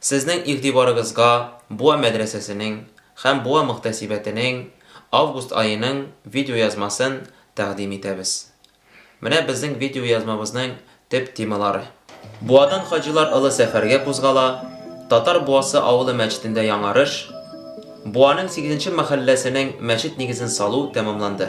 Сезнең игътибарыгызга Буа мәдрәсәсенең һәм Буа мөхтәсибәтенең август аеның видеоязмасын тәкъдим итәбез. Менә безнең видеоязмабызның төп темалары. Буадан хаҗилар олы сәфәргә кузгала, Татар Буасы авылы мәчетендә яңарыш, Буаның сигезенче мәхәлләсенең мәчет нигезен салу тәмамланды.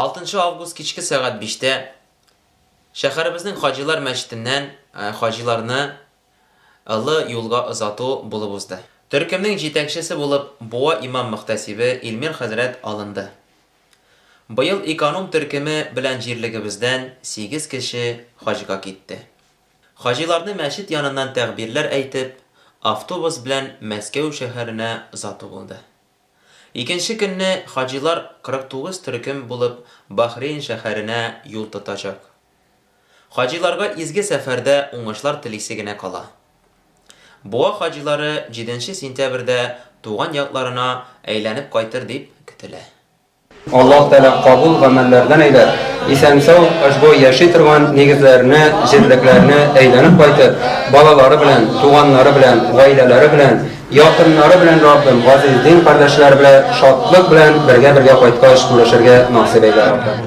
Алтынчы август кичке сәгать биштә шәһәребезнең Хаҗилар мәчетеннән хаҗиларны Олы юлга озату булып узды. Төркемнең җитәкчесе булып Буа имам-мөхтәсибе Илмир хәзрәт алынды. Быел эконом төркеме белән җирлегебездән сигез кеше хаҗга китте. Хаҗиларны мәчет яныннан тәгъбирләр әйтеп, автобус белән Мәскәү шәһәренә озату булды. Икенче көнне хаҗилар 49 төркем булып Бахрейн шәһәренә юл тотачак. Хаҗиларга изге сәфәрдә уңышлар телисе генә кала. Буа хаҗилары җиденче сентябрьдә туган якларына әйләнеп кайтыр дип көтелә. Аллаһ Тәгалә кабул гамәлләрдән әйбәт, исән-сау, ошбу яши торган нигезләренә, җирлекләренә әйләнеп кайтып, балалары белән, туганнары белән, гаиләләре белән, якыннары белән Раббым, газиз дин кардәшләре белә шатлык белән бергә-бергә кайткач күрешергә насыйп әйлә, Раббым.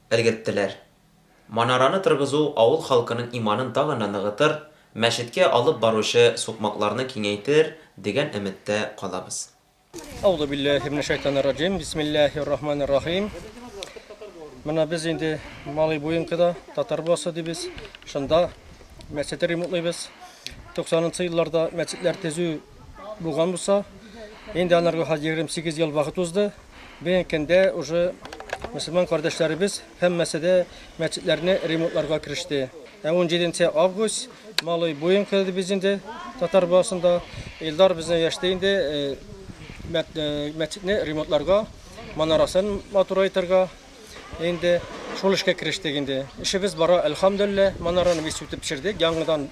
Өлгерттеләр. Манараны торгызу авыл халкының иманын тагын да ныгытыр, мәчеткә алып баручы сукмакларны киңәйтер, дигән өметтә калабыз. Әузубилләһиминәшәйтанирраҗим, бисмилләһиррахманиррахим. Менә без инде Малый Буенкода, Татар Буасы дибез, шунда мәчете ремонтлыйбыз. 90 нчы елларда мәчетләр төзү Булган булса, инде анарга хәзер 28 ел вакыт узды. Бүгенге көндә уже мөселман кардәшләребез һәммәсе дә мәчетләрне ремонтларга кереште. Ә 17 август Малый буен килде без инде татар баласында. Илдар безнең яшьтә инде мәчетне ремонтларга, манарасын матурайтырга, Инде шул эшкә керештек инде. Эшебез бара, әлхәмдүлилләһ. Манараны без сүтеп пешердек. Яңадан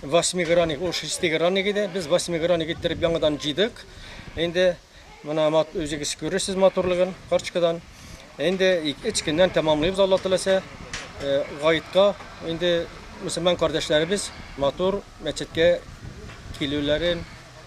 восьмигранник, ул шестигранник иде. Без восьмигранник иттереп яңадан җыйдык. Инде менә үзегез күрерсез матурлыгын корчкадан. Инде эч көннән тәмамлыйбыз Алла теләсә. Э, Гаетка инде мөселман кардәшләребез матур мәчеткә килүләрен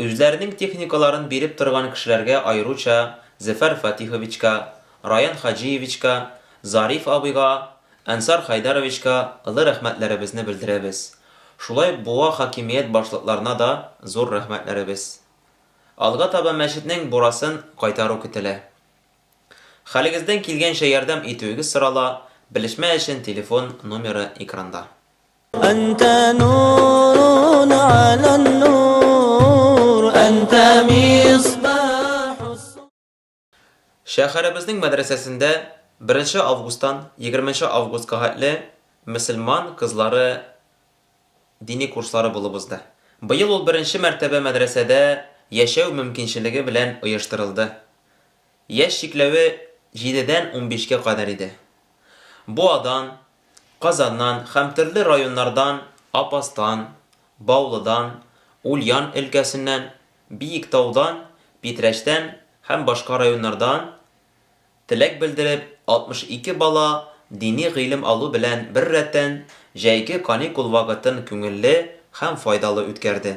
Үзләренең техникаларын биреп торган кешеләргә аеруча Зөфәр Фатиховичка, Раян Хаҗиевичка, Зариф абыйга, Әнсар Хәйдәровичка ылы рәхмәтләребезне белдерәбез. Шулай ук Буа хакимият башлыкларына да зур рәхмәтләребез. Алга таба мәчетнең бурасын кайтару көтелә. Хәлегездән килгәнчә ярдәм итүегез сорала, белешмә өчен телефон номеры экранда. Шәһәребезнең мәдрәсәсендә 1 нче августтан 20 нче августка хәтле мөселман кызлары дини курслары булып узды. Быел ул беренче мәртәбә мәдрәсәдә яшәү мөмкинчелеге белән оештырылды. Яшь чикләве җидедән унбишкә кадәр иде. Бу Адан, Казаннан һәм төрле районнардан, Апастан, Баулыдан, Ульян өлкәсеннән, Биектаудан, Питрәчтән һәм башка районнардан теләк белдереп, 62 бала дини гыйлем алу белән беррәттән, җәйге каникул вакытын күңелле һәм файдалы үткәрде.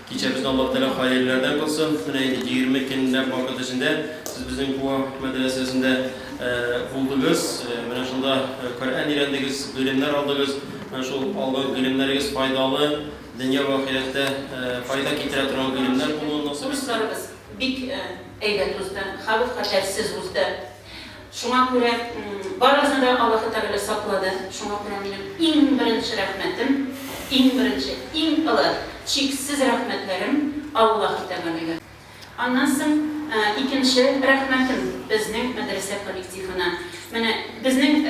Кичәбезне Аллаһ Тәгалә хаерләрдән кылсын. Менә инде егерме көнләп вакыт эчендә сез безнең Куа мәдрәсәсендә булдыгыз. Менә шунда Коръән өйрәндегез, гыйлемнәр алдыгыз. Менә шул алган гыйлемнәрегез файдалы, дөнья вә ахирәттә файда китерә торган гыйлемнәр булуын насыйп итсен. Курсларыбыз бик әйбәт узды, халык хәтәрсез узды. Шуңа күрә барыгызны да Аллаһы Тәгалә саклады. Шуңа күрә минем иң беренче рәхмәтем, иң беренче, иң олы, чиксез рәхмәтләрем Аллаһы Тәгаләгә. Аннан соң икенче рәхмәтем безнең мәдрәсә коллективына. Менә безнең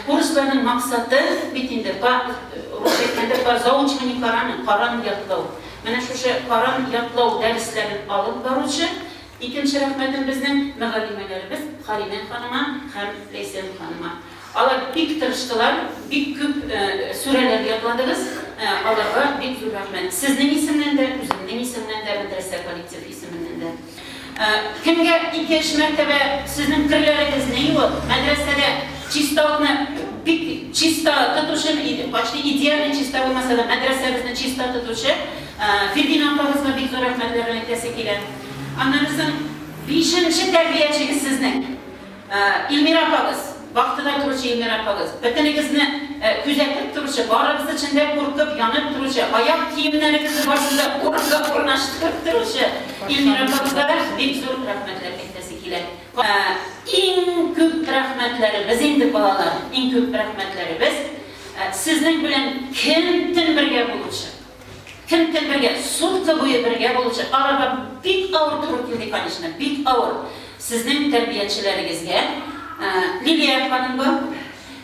курсларның максаты бит инде, па, русча әйткәндә, по заучиванию Корана, Коран ятлау. Менә шушы Коран ятлау дәресләрен алып баручы Икенче рәхмәтем безнең мөгаллимәләребез Халинә ханыма һәм Ләйсән ханыма. Алар бик тырыштылар, бик күп сүрәләр ятладыгыз, аларга бик зур рәхмәт. Сезнең исемнән дә, үземнең исемнән дә, мәдрәсә коллектив исеменнән дә. Кемгә икенче мәртәбә сезнең керләрегезне юып, мәдрәсәдә чисталыкны бик чиста тотучы, почти идеально чиста булмаса да, мәдрәсәбезне чиста тотучы Фирдинә апагызга бик зур рәхмәтләрен әйтәсе килә. Аннан соң бишенче тәрбиячегез сезнең Илмира апагыз, вахтада торучы Илмира апагыз. Бөтенегезне күзәтеп торучы, барыгыз өчен дә куркып, янып торучы, аяк киемнәрегезне барысын да урынга урнаштырып торучы Илмира апагызга да бик зур рәхмәтләр әйтәсе килә. Иң күп рәхмәтләребез инде, балалар, иң күп рәхмәтләребез сезнең белән көн-төн бергә булучы, Кем кем бергә, сутка буе бергә булучы арага бик авыр туры килде, конечно, бик авыр. Сезнең тәрбиячеләрегезгә Лилия ханымга,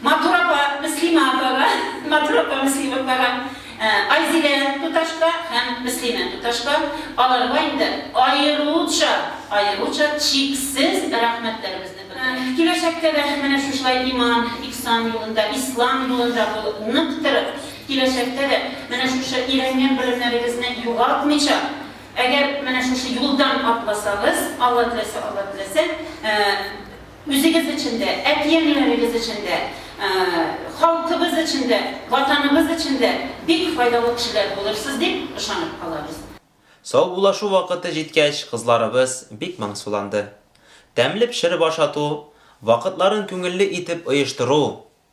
матур апа Мөслимә апага, матур апа Мөслимә апага, Айзилә туташка һәм Мөслимә туташка, аларга инде аеруча, аеруча чиксез рәхмәтләребезне белдерәбез. Киләчәктә дә менә шушылай иман, ихсан юлында, ислам юлында булып, нык торып, Киләчәктә дә менә шушы өйрәнгән белемнәрегезне югалтмыйча, әгәр менә шушы юлдан атласагыз, Алла теләсә, Алла теләсә, үзегез өчен дә, әти-әниләрегез өчен дә, халкыбыз өчен дә, Ватаныбыз өчен дә бик файдалы кешеләр булырсыз дип ышанып калабыз. Саубуллашу вакыты җиткәч, кызларыбыз бик моңсуланды. Тәмле пешереп ашату, вакытларын күңелле итеп оештыру,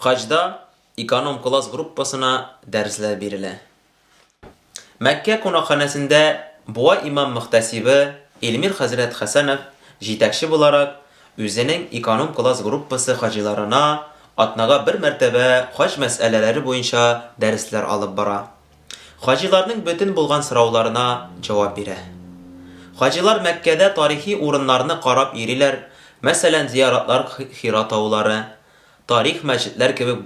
Хаҗда эконом класс группасына дәресләр бирелә. Мәккә кунакханәсендә Буа имам мөхтәсибе Эльмир хәзрәт Хәсәнов җитәкче буларак үзенең эконом класс группасы хаҗиларына атнага бер мәртәбә хаҗ мәсьәләләре буенча дәресләр алып бара. Хаҗиларның бөтен булган сорауларына җавап бирә. Хаҗилар Мәккәдә тарихи урыннарны карап йөриләр, мәсәлән, зияратлар Хира таулары, тарих мәчетләр кебек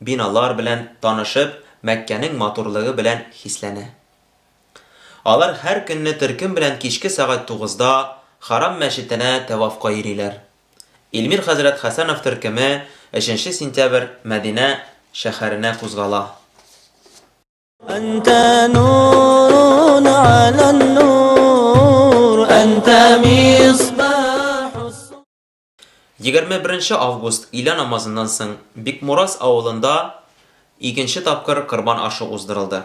биналар белән танышып, Мәккәнең матурлыгы белән хисләнә. Алар һәр көнне төркем белән кичке сәгать тугызда Харам мәчетенә тәвафка йөриләр. Илмир хәзрәт Хәсәнов төркеме өченче сентябрь Мәдинә шәһәренә кузгала. Әнтә нурун ала нур, әнтә мисбахус. Егерме беренче август илә намазыннан соң Бикмурас авылында икенче тапкыр корбан ашы уздырылды.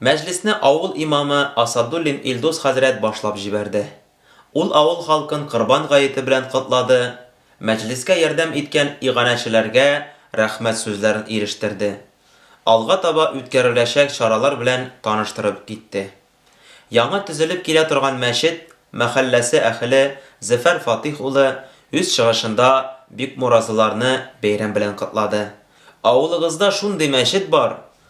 Мәҗлесне авыл имамы Асадуллин Илдус хәзрәт башлап җибәрде. Ул авыл халкын Корбан гаете белән котлады, мәҗлескә ярдәм иткән иганәчеләргә рәхмәт сүзләрен ирештерде, алга таба үткәреләчәк чаралар белән таныштырып китте. Яңа төзелеп килә торган мәчет мәхәлләсе әһеле Зөфәр Фатыйх улы үз чыгышында бикмуразыларны бәйрәм белән котлады. Авылыгызда шундый мәчет бар,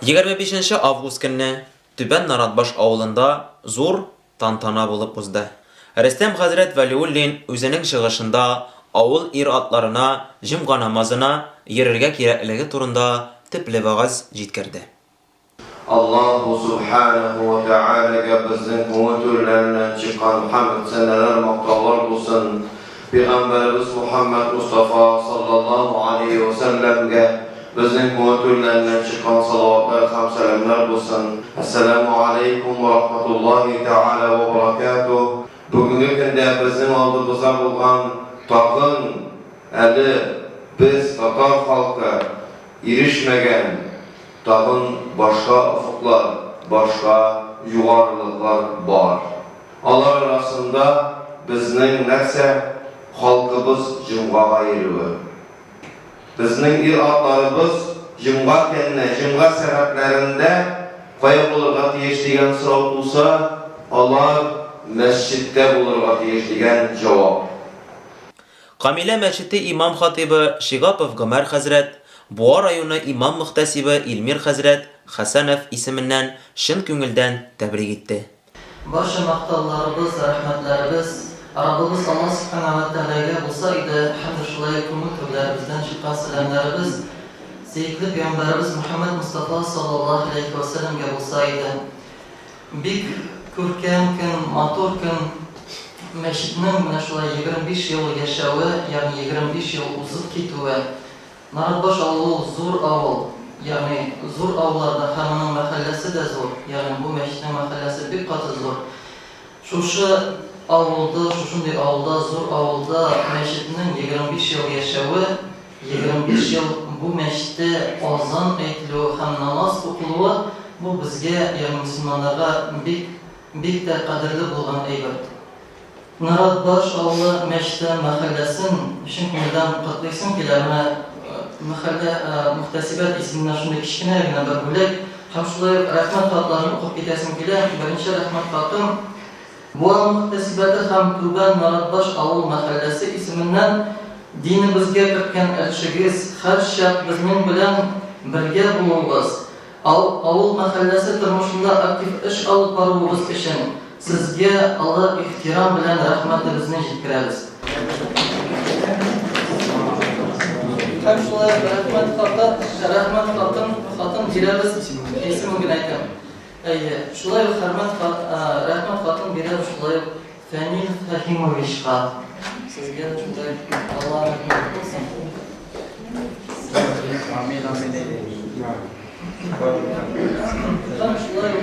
25 нче август көнне Түбән Наратбаш авылында зур тантана булып узды. Рөстәм хәзрәт Вәлиуллин үзенең чыгышында авыл ир-атларына җомга намазына йөрергә кирәклеге турында төпле вәгазь җиткерде. Аллаһу Сүбхәнәһү вә Тәгаләгә безнең күңел түрләреннән чыккан хәмд-сәналар, мактаулар булсын! Пигамбәребез Мухаммәд Мостафа саллаллаһу алейһи вә сәлләмгә безнең күңел түрләреннән чыккан салаватлар һәм сәламнәр булсын. Әссәләмү алейкум вә рахматуллаһи тәгалә вә баракәтүһ! Бүгенге көндә безнең алдыбызда булган тагын әле без, татар халкы, ирешмәгән тагын башка офыклар, башка югарылыклар бар. Алар арасында безнең нәрсә, халкыбыз җомгага йөрүе. Безнең ир-атларыбыз җомга көнне, җомга сәгатьләрендә кая булырга тиеш дигән сорау туса, алар мәсҗидтә булырга тиеш дигән җавап. Камилә мәчете имам-хатыйбы Шигапов Гомәр хәзрәт, Буа районы имам-мөхтәсибе Илмир хәзрәт Хәсәнов исеменнән чын күңелдән тәбрик итте. Барча мактауларыбыз, рәхмәтләребез Раббыбыз Алла Субхана уә Тәгаләгә булса иде һәм дә шулай ук күңел түрләребездән чыккан сәламнәребез сөекле пәйгамбәребез Мөхәммәд Мостафа салләллаһу галәйһи уә сәләмгә булса иде. Бик күркәм көн, матур көн. Мәчетнең менә шулай егерме биш ел яшәве, ягъни егерме биш ел узып китүе. Наратбаш авылы ул зур авыл, ягъни зур авыллар да һәм моның мәхәлләсе дә зур, ягъни бу мәчетнең мәхәлләсе бик каты зур. Шушы авылда, шушындый авылда, зур авылда мәчетнең егерме биш ел яшәве, егерме биш ел бу мәчеттә азан әйтелүе һәм намаз укылуы, бу безгә, ягъни мөселманнарга бик, бик тә кадерле булган әйбер. Нарат баш авылы Мәчтә мәхәлләсен чын күңелдән котлыйсым килә. Менә мәхәллә мөхтәсибәт исеменнән шундый кечкенә генә бер бүләк һәм шулай ук рәхмәт хатларын укып китәсем килә. Беренче рәхмәт хатым Буа мөхтәсибәте һәм Түбән Наратбаш авыл мәхәлләсе исеменнән динебезгә керткән өлешегез, һәрчак безнең белән бергә булуыгыз, Авыл мәхәлләсе тормышында актив эш алып баруыгыз өчен сезгә олы ихтирам белән рәхмәтебезне җиткерәбез. Һәм шулай ук рәхмәт хаты, рәхмәт хатын, хатын бирәбез, исемен генә әйтәм. Әйе, шулай ук хәрмәт, рәхмәт хатын бирәбез, шулай ук Фәнил Фәһимовичка сезгә шундай Алла рәхмәт кылсын. Амин, амин. Һәм шулай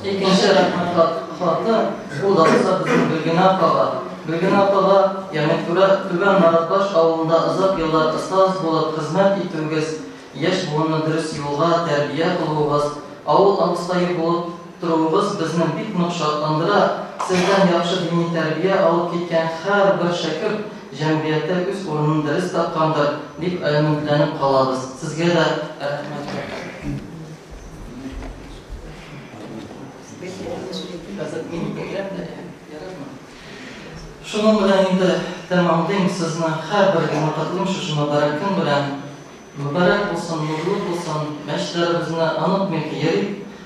икенче рәхмәт хаты ул да булса безнең Гөлгенә апага. Гөлгенә апага Яметкүрә Түбән Маратбаш авылында озак еллар остаз булып хезмәт итүегез, яшь буынны дөрес юлга тәрбия кылуыгыз, авыл абыстае булып Торуыгыз безне бик нык шатландыра, сездән яхшы дини тәрбия алып киткән һәрбер шәкерт җәмгыятьтә үз урынын дөрес тапкандыр, дип өметләнеп калабыз. Сезгә дә рәхмәт Шуның белән инде тәмамлыйм, сезне һәрберегезне котлыйм шушы мөбарәк көн белән. Мөбарәк булсын, нурлы булсын, мәчетләребезне онытмыйк, йөрик.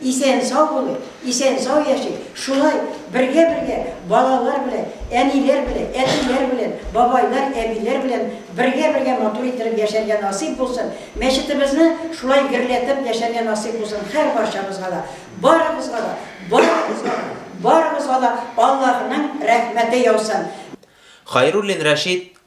Исән-сау булыйк, исән-сау яшик, шулай бергә-бергә балалар белән, әниләр белән, әтиләр белән, бабайлар, әбиләр белән бергә-бергә матур иттереп яшәргә насыйп булсын, мәчетебезне шулай герләтеп яшәргә насыйп булсын һәрбарчабызга да, барыбызга да, барыбызга да, барыбызга да Аллаһының рәхмәте яусын. Хайруллин Рәшит,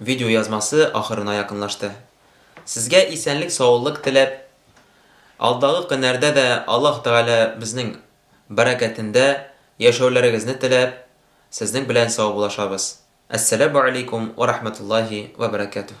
Видеоязмасы ахырына якынлашты. Сезгә исәнлек-саулык теләп, алдагы көннәрдә дә Аллаһ Тәгалә безнең бәрәкәтендә яшәүләрегезне теләп, сезнең белән саубуллашабыз. Әссәләмү алейкум вә рахмәтуллаһи вә бәрәкәтүһ.